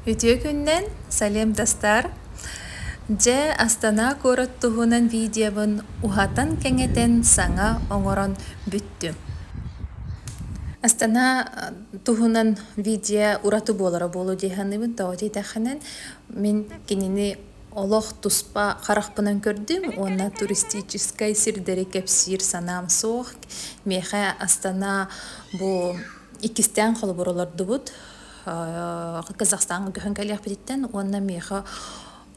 Үтүө күннэн, салем тастар! Дьэ, Астана куорат туһунан видеобын уһатан-кэҥэтэн саҥа оҥорон бүттүм. Астана туһунан видео ураты буолара буолуо дии саныыбын. Тоҕо диэтэххинэ, мин кинини олох туспа харахпынан көрдүм уонна туристическай сирдэри кэпсиир санаам суох. Миэхэ Астана бу Иккистээн холобур олордубут. Казахстан көһөн кэлиэхпититтэн уонна миэхэ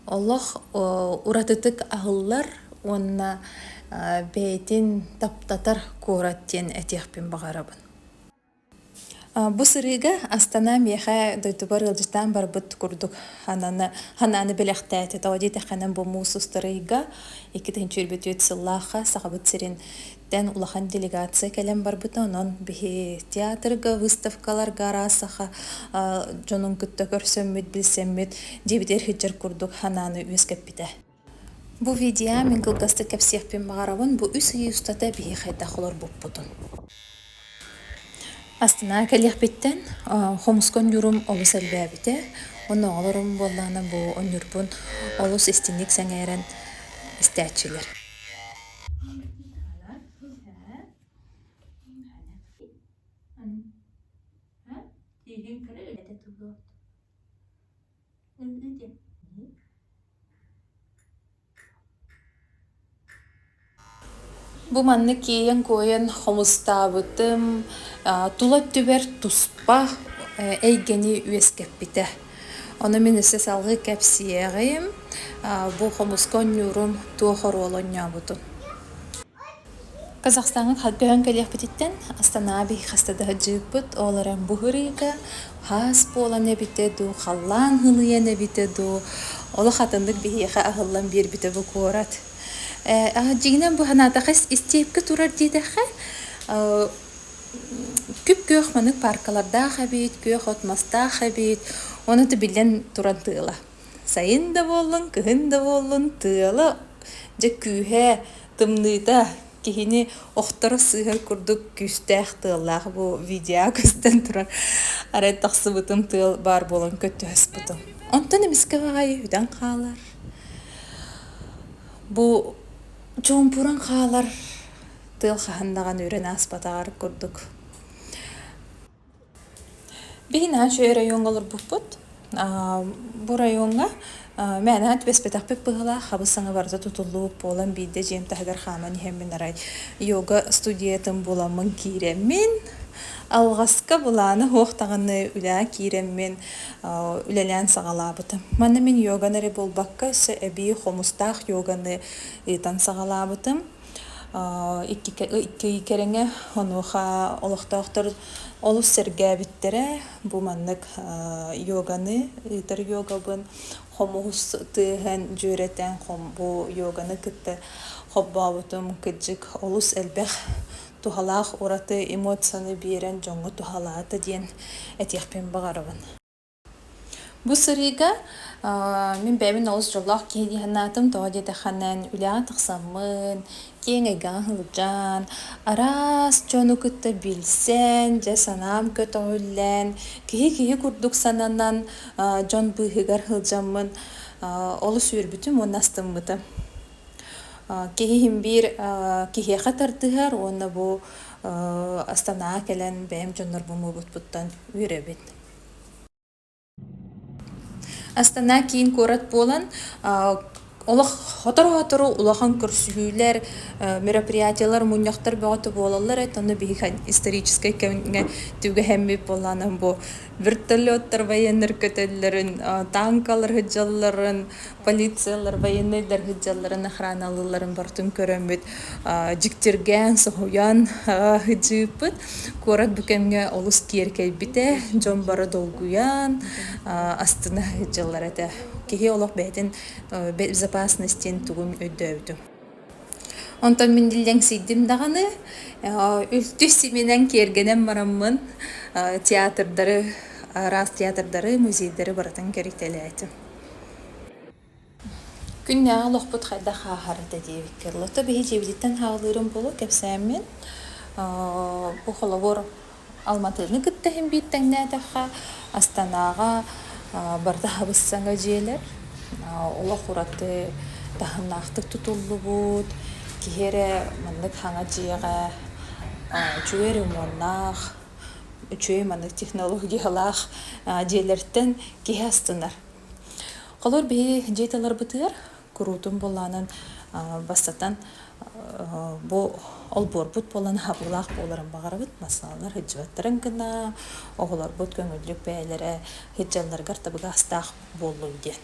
олох уратытык аһыллар уонна бэйэтин таптатар куорат диэн этиэхпин баҕарабын. Бу сырыыга Астана миэхэ дойдубар ыалдьытаан барбыт курдук хананы ханааны бэлэхтээтэ. Тоҕо диэтэххинэ бу муус устарыйга икки тыһыынча өлбүт сыллаахха Сахабыт сирин Эн улахан делегация кэлэн барбыта, онон биһи театрга, выставкаларга араас саха дьонун кытта көрсөммүт, билсэммит, дьиэбитигэр сылдьар курдук санааны үөскэппитэ. Бу видео мин кылгастык кэпсиэхпин баҕарабын. Бу үс ый устата биһи хайдах олорбуппутун. Астынаа кэлиэхпиттэн хомуска онньуурум олус элбээбитэ. Онооҕолорум буоллаҕына бу онньуурбун олус истиҥник сэҥээрэн истээччилэр Бу маннык иэйэн-куойан хомустаабытым тула өттүбэр туспа эйгэни үөскэппитэ. Ону мин өссө салгыы кэпсиэҕим. Бу хомуска оонньуурум туох оруолу оонньообутун. Казахстаҥҥа көһөн кэлиэхпититтэн Астанаби хаста да сылдьыбыппыт. Ол эрэн бу ырыыга хаас буолан эбитэ дуу, халлаан һыныйан эбитэ дуу, олох атыннык биһиэхэ аһыллан биэрбитэ бу куорат. Дьиҥинэн бу санаатаҕа истиэпкэ турар диэтэххэ, күп-күөх маннык пааркалардаах эбит, күөх от мастаах эбит, ону да биллэн туран тыала. Сайын да буоллун, кыһын да буоллун, тыала дьэ күүһэ, тымныыта киһини охторор сыыһар курдук күүстээх тыаллаах бу видео көстөн турар. Арай тахсыбытым тыал баар буолан көттөһүспүтүм. Онтон эмискэ баҕайы үтэн хаалар. Бу чуумпуран хаалар тыал хаһан даҕаны үрэн ааспатаҕар курдук. Биһиги үчүгэй оройуонга олорбуппут. Бу оройуонга мээнэ түбэспэтэхпит быһыылаах, хабыс-саҥа барыта тутуллубут буолан биирдэ дьиэм таһыгар хааман иһэммин арай йога студиятын буламмын киирэммин, алҕаска былаана суох даҕаны үлэҕэ киирэммин үлэлээн саҕалаабытым. Манна мин йоганы эрэ буолбакка өссө эбии хомустаах йоганы ыытан саҕалаабытым. икки кэриҥэ онуоха олохтоохтор олус сэргээбиттэрэ бу маннык йоганы ыытар йогабын хомуһус тыаһын дьүөрэтэн бу йоганы кытта холбообутум кыдьык олус элбэх туһалаах ураты эмоцияны биэрэн дьоҥҥо туһалаата диэн этиэхпин баҕарабын Бу сырыыга мин бэйэбин олус дьоллоох киһи дии санаатым. Тоҕо диэтэххинэ үлэҕин тахсаммын, киэҥ эйгэҕин сылдьан, араас дьону кытта билсэн, дьэ санаам көтөҕүллэн, киһи-киһи курдук сананан дьон быыһыгар сылдьаммын олус үөрбүтүм уонна астыммытым. Киһим биир киһиэхэ тардыһар уонна бу Астанаҕа кэлэн бэйэм дьоннорбун муобутпуттан үөрэбин. Астана киин куорат буолан олох сотору-сотору улахан көрсүһүүлэр, мероприятиелар мунньахтар бөҕөтө буолаллар эт онно биһиги историческай кэмҥэ түгэһэммит буолаанан бу вертолеттар военнар көтөллөрүн, тааҥкалар сыдьалларын, полициялар военнайдар сылдьалларын охраналыылларын бартын көрөммүт дьиктиргээн соһуйан сыдьыыппыт куорат бу кэмҥэ олус киэркэйбитэ дьон бара долгуйан астына сыдьаллар этэ киһи олох бэйэтин безопасностин тугун өйдөөбүтүм Онтон мин лэҥсийдим даҕаны, үлтү симинэн киэргэнэн бараммын театрдары араас театрдары, музейдары барытын кэритэлээтим. Күннээҕи олохпут хайдах ааһарыта диэбиккэ, лото биһи дьиэбититтэн хаалыырым буолуо кэпсээммин. Бу холобур Алматыны кытта иһимбиит тэҥнээтэххэ, Астанаҕа Бардабыс саҥа дьиэлэр, олох ураты таһымнаахтык тутуллубут. Киһи эрэ маннык хаҥа дьиэҕэ үчүгэй ремоннаах, үчүгэй маннык технологиялаах дьиэлэртэн киһи астынар. Холобур, биһи дьиэ таларбытыгар куруутун буолаанын бастатан бу олбуорбут буолан аһабылаах буоларын баҕарабыт массаалар сылдьыбаттарын гына оҕолорбут көҥүллүк бэйэлэрэ сылдьалларыгар табыгастаах буоллун диэн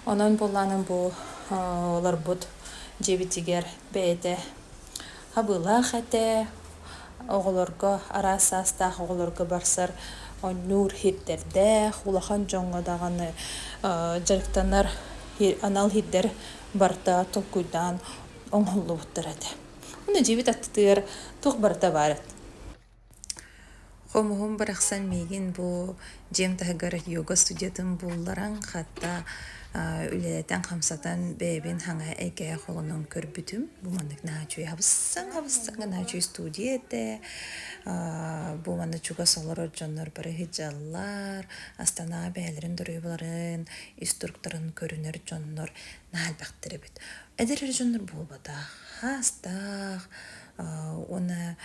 онон буолаанын бу олорбут дьиэбитигэр бэйэтэ Абылаах этэ, оҕолорго араас саастаах оҕолорго барсар оонньуур иһирдэрдээх, улахан дьоҥҥо даҕаны дьарыктанар анал иһирдэр барыта толкуйдаан оҥоһуллубуттар этэ. Уонна дьиэбит аттытыгар туох барыта баар эт Хомуһум барахсан миигин бу дьиэм таһыгар йога студиятын булларан, хата үлэлэтэн-хамсатан бэйэбин хаҥа эйгэҕэ холонон көрбүтүм. Бу маннык наһаа үчүгэй хабыссан-хабыссан гына үчүгэй студия этэ. бу манна чугас олорор дьоннор бары ыһыдьаллар, Астанаҕа бэйэлэрин доруобаларын, инструкторын көрүнэр дьоннор наһаа элбэхтэр эбит. Эдэр эр дьоннор буолбатах, хаастаах, уонна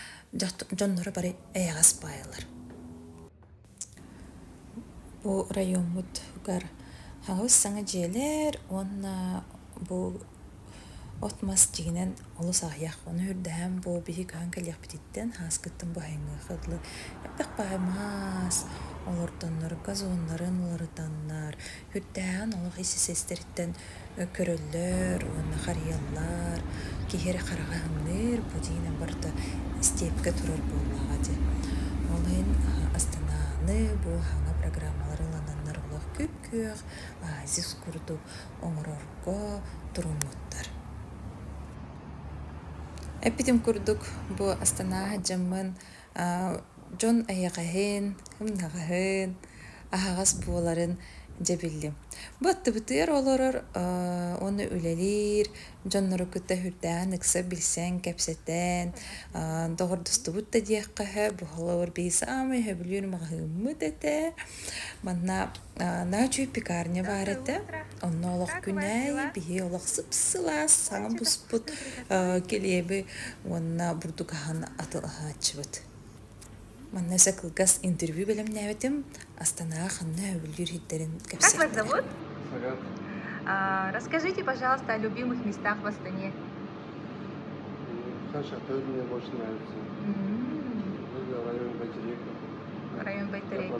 дьонноро бары эйэҕэс баайалар бу оройуоммутугар аҕыс саҥа дьиэлэр уонна бу от мас дьиэнэн олус аҕыйах ону үрдэһэн бу биһиги көһөн кэлиэхпититтэн ааскыттан бу айымыаха дылы элбэх баай мас олордоннор газоннарын уларытаннар Күрдээҕин олох ис-иһсэстэриттэн көрөллөр уонна харыйаллар. Киһи хараҕа һыҥныыр, бу дьиэнэн барыта степка турар буоллаҕа дии. Ол иһин Астананы бу саҥа программалар ылынаннар олох күп-күөх оазис курдук оҥорорго туруҥуохтар. Эппитим курдук, бу Астана сылдьаммын дьон эйэҕэһин, ымнаҕаһын, аһаҕас буоларын дьэ биллим. Бу аттыбытыгар олорор уонна үлэлиир дьоннору кытта үрдээҕин ыкса билсэн, кэпсэтэн доҕордостубут да диэххэ сөп. Олобур биһи саамай сөбүлүүр маҕаһыыммыт этэ. Манна Наачүй пекарня баар этэ. Онно олох күнэй, биһи олох сып-сылаас саҥа буспут килиэби уонна бурдук аһын атылаһааччыбыт. Манна өссө кылгас интервью бэлэмнээбитим. Астанаҕа ханна өбүллүүр иһиттэрин кэпсиэхтэрэ. Расскажите, пожалуйста, о любимых местах в Астане. Саша тоже мне больше нравится. Район Байтерейка. Район Байтерейка.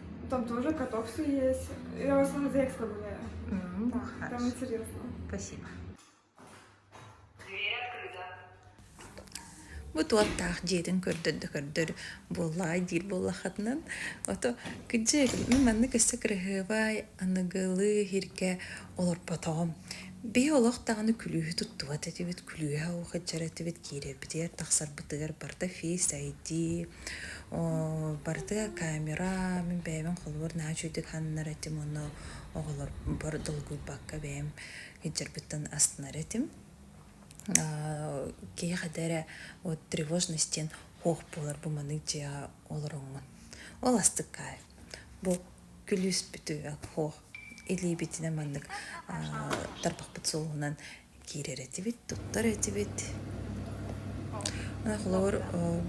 Там тоже котовцы есть. Я в основном Зекска гуляю. М, Да, хорошо. там интересно. Спасибо. Бу туоттаах дьиэтин көрдөрдө-көрдөр буоллаҕай диир буоллахатынан ото кыдьык мен манны көссө кырыһыабай аныгылыы хиргэ олорботоҕум бии олох даҕаны күлүүһү туттубат этибит күлүүһэ охыджар этибит киирэрбитигэр тахсарбытыгар барта фейс айди Барды камера мин бэйэбин холобур наһаа үчүгэйдик сананар этим уонна оҕолорбор долгуйбакка бэйэм илдьэрбиттэн астынар этим. Киһиэхэ да эрэ вот тревожность диэн хуох буолар бу маннык дьиэҕэ олороҥмун. Ол астык кайф. Бу күлүүспүтү хуох илиибитинэн маннык тарбахпыт суолунан киирэр этибит, туттар этибит. Ынах олоор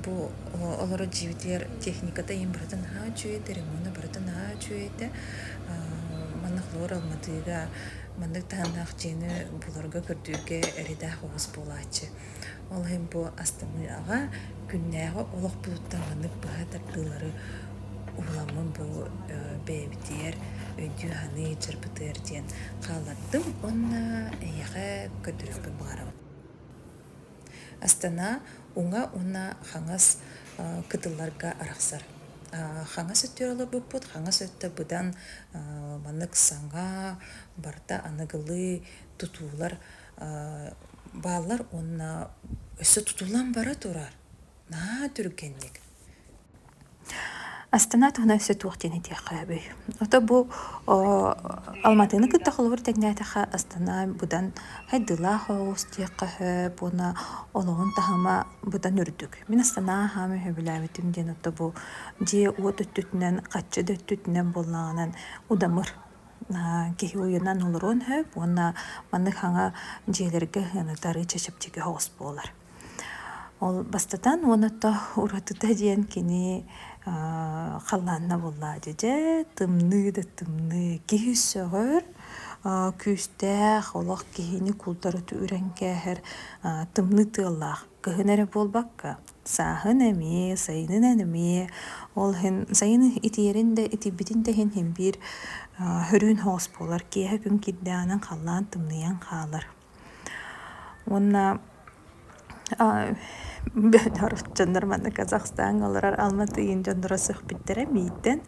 бу олорор дьиибитигэр техниката иһин барытын наһаа үчүгэйдэ, ремонта барытын наһаа үчүгэйдэ. Маннык олоор Алматыга маннык таһымнаах дьиэни буларга, көрдүүргэ эрэйдээх оҕус буолааччы. Ол иһин бу астымыаҕа күннээҕи олохпутуттан маннык быһа тардыылары уһуламмын бу бэйэбитигэр өйдүү-саныы дьарбытыгар диэн хааллардым уонна эйиэхэ көрдөрүөхпүн баҕарабын. Астана уҥа уонна хаҥас кытылларга арахсар. Хаҥас өттүгэр олорбуппут, хаҥас өттө быдан маннык саҥа, барыта аныгылыы тутуулар Бааллар уонна өссө тутуллан бара турар наһаа түргэнник Астана туһуна өссө туох диэн этиэххэ сөбүй? Ото бу Алматыны кытта холобур тэҥнээтэххэ Астана быдан хайдыылаах оҕус диэххэ сөп уонна олоҕун таһыма быдан үрдүк. Мин Астана аһаан өһөбүлээбитим диэн ото бу дьиэ уот өттүтүнэн, хаччы да өттүтүнэн буоллаҕына удамыр киһи уйунан олоруон сөп уонна маннык хаҥа дьиэлэргэ ытары чэчэпчэки соҕус буолар. Ол бастатан уонатта уратыта диэн кини халлаанна буллаа дьэдьэ тымныы да тымныы киһи сөҕөр күүстээх олох киһини култарыты үрэн кээһэр тымныы тыаллаах Кыһын эрэ буолбакка, сааһын эмиэ, сайынын эмиэ, ол иһин сайын итийэрин да, итийбитин да иһин иһин биир хөрүүн соҕус буолар, киэһэ күн кирдээнэн халлаан тымныйан хаалар. Уонна бөтөр дьоннор манна Казахстаҥҥа олорор Алматыын дьонноро сөхпүттэрэ миитэн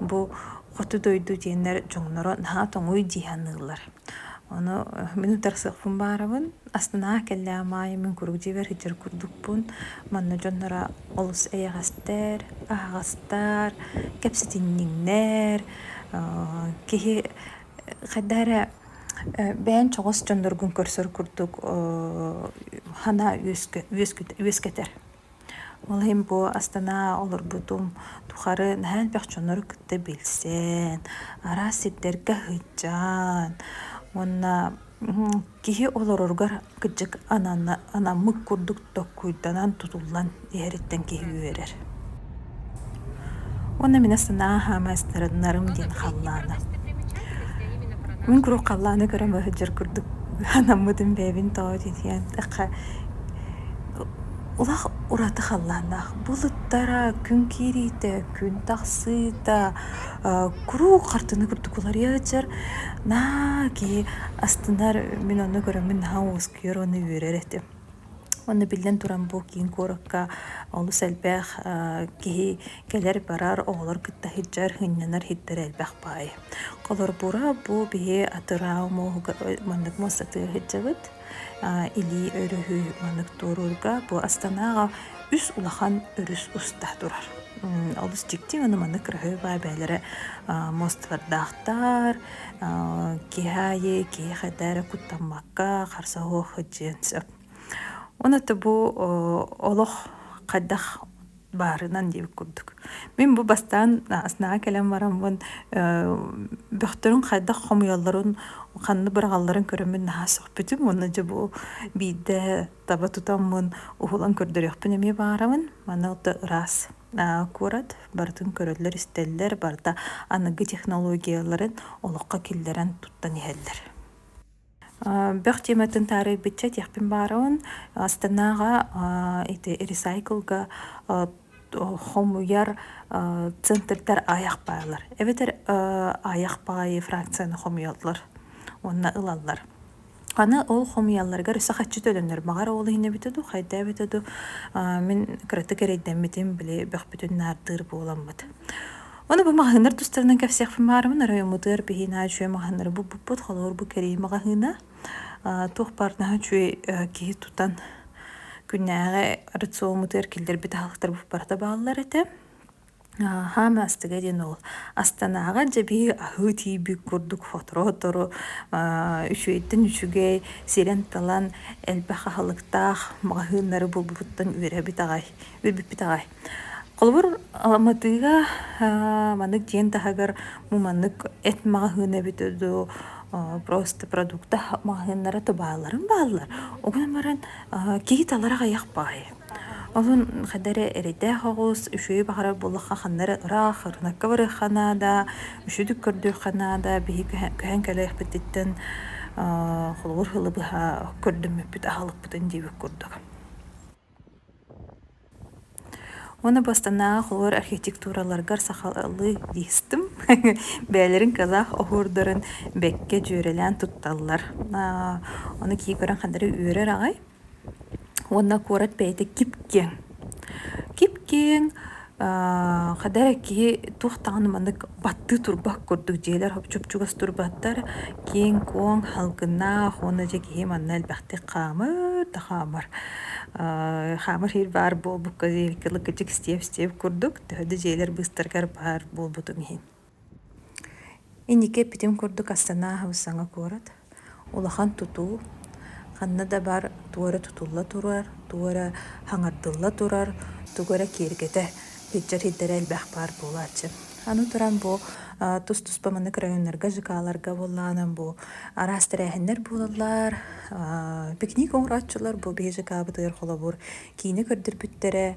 бу хоту дойду диэннэр дьоҥноро наһаа тоҥуй дии саныыллар. Ону мин утарсыахпын баарабын Астынаа кэллээ Маайа мин куруук дьиэбэр сылдьар курдукпун манна дьонноро олус эйэҕэстэр аһаҕастар кэпсэтинньиҥнэр киһи хайда эрэ бэйэн чоҕос дьонноргун көрсөр курдук ханаа үөскэтэр Ол иһин бу Астана олорбутум тухары наһаа элбэх дьоннору кытта билсэн, араас сирдэргэ сылдьан уонна киһи олороругар кырдьык анаммыт курдук докуйданан, тутуллан иһэриттэн киһи үөрэр. Уонна мин санаа хаама ыстарыннарым диэн халлаана. Мин куруук халлааны көрөн сылдьар курдук анаммытым бэйэбин тоот итийэн такха Олох ураты халлааннаах. Булуттара, күн киириитэ, күн тахсыыта куруук хартыына курдук уларыйа сытар. Наа киһи астынар, мин онно көрөммүн наһаа уоскуйар уонна үөрэр этим. Уонна биллэн туран бу киин куоракка олус элбэх киһи кэлэр-барар, оҕолор кытта сылдьар, сынньанар иһиттэрэ элбэх баҕайы. Холорбура бу биһи атырау муоһугар маннык муостатыгар сылдьабыт. Илии өрүһү маннык туоруурга бу Астанаҕа үс улахан өрүс уста турар. Олус дьикти, маннык кыраһыабай бэйэлэрэ муосталардаахтар, киһи аайы киһи-хэтэр куттаммакка харса суох сылдьыан сөп. Уонна то бу олох хайдах баарынан диэбит курдук. Мин бу бастаан астынага кэлэн бараммын бөхтөрүн хайдах хомуйалларын ханны быраҕалларын көрөммүн наһаа сөхпүтүм уонна дьэ бу биирдэ таба тутаммын уһулан көрдөрүөхпүн эмиэ баарабын. Маны ол да ыраас куорат барытын көрөллөр-истэллэр, барыта аныгы технологияларын олоххо киллэрэн туттан иһэллэр. Бөх тиэмэтин таарыйбычча диэхпин баарыбын Астанаҕа ити ресайклга хомуйар центрдар аайах баалар. Эбэтэр аайах баайы фракцияны хомуйаллар уонна ылаллар. Аны ол хомуйалларыгар өссө хаччыта өлөннөр баҕар ол иһин эбитэ дуу, хайда эбитэ дуу, аа мин кыратык эрэйдэммитим, били бөхпүтүн наардыыр буоламмыт. Ону бу маҕаһыыннар тустарынан кэпсиэхпин баарымын, оройуоммутугар биһиэнэ үчүгэй маҕаһыыннары буппуппут, холобур бу кэрии маҕаһыына, аа туох баарнаһа үчүгэй аа киһи тутан күннээҕи рационмутугар киллэрбит аһылыктар буппарата бааллар этэ. Хаама астыга диэн ол Астанаҕа дьэбии аһыы тиийбит курдук сотору-сотору үчүгэйтэн үчүгэй сирэн-талан элбэх аһылыктаах маҕаһыыннары булбупуттан үөрэбит аҕай үөрбүппүт аҕай. Холобур Алматыга маннык дьиэн таһыгар бу маннык эт маҕаһыына эбит дуу просто продукта маҕаһыыннара да баалларын бааллар. Ол гынан баран киһи талар аҕыйах баҕайы. Оһун хадары эрэйдээх оҕус үчүгэй баҕарар буоллахха ханнары ыраах ырынакка барыахха наада, үчүдүк көрдүөххэ наада, биһи көһөн көһөн кэлиэхпититтэн аа холобур һылы быһа көрдөммүппүт аһалыкпытын диэбит курдук. Уонна бастанааҕы холобур архитектураларгар сахалыы дистым бэйэлэрин кылаах оһуордарын бэккэ дьүөрэлээн тутталлар аа ону кии көрөн ханнары үөрэр аҕай Уонна куорат бэйэтэ кип-киэҥ. Кип-киэҥ хайда эрэ киһи туох даҕаны маннык баттыы турбат курдук дьиэлэр чупчугас турбаттар киэҥ-куоҥ, салгынаах уонна дьэ киһи манна элбэхтик хаамыр да хаамар. хаамар иһир баар буолбукка диэри кылык-кычык стиэп-стиэп курдук төһө да дьиэлэр быыстарыгар баар буолбутун иһин Инники эппитим курдук Астанаа Хаһыссаҥа куорат улахан тутуу, ханна да бар тугу эрэ тутулла турар, тугу эрэ хаҥардылла турар, тугу эрэ киэргэтэ илдьэ сирдэрэ элбэх баар буолааччы. Аны туран бу тус-туспа маннык районнарга, ЖК-ларга буоллаҕына бу араас тэрээһиннэр буолаллар, пикник оҥорооччулар бу биһи ЖК-бытыгар холобур киинэ көрдөрбүттэрэ,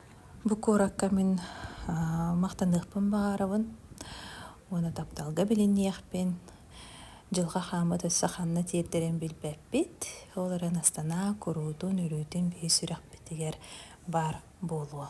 Бу куоракка мин махтаныахпын баҕарабын уонна тапталга билиниэхпин. Дьылҕа хааммыт өссө ханна тиэрдэрин билбэппит. Ол эрэн Астанаа куруутун, үрүүтүн биир сүрэхпитигэр баар буолуо.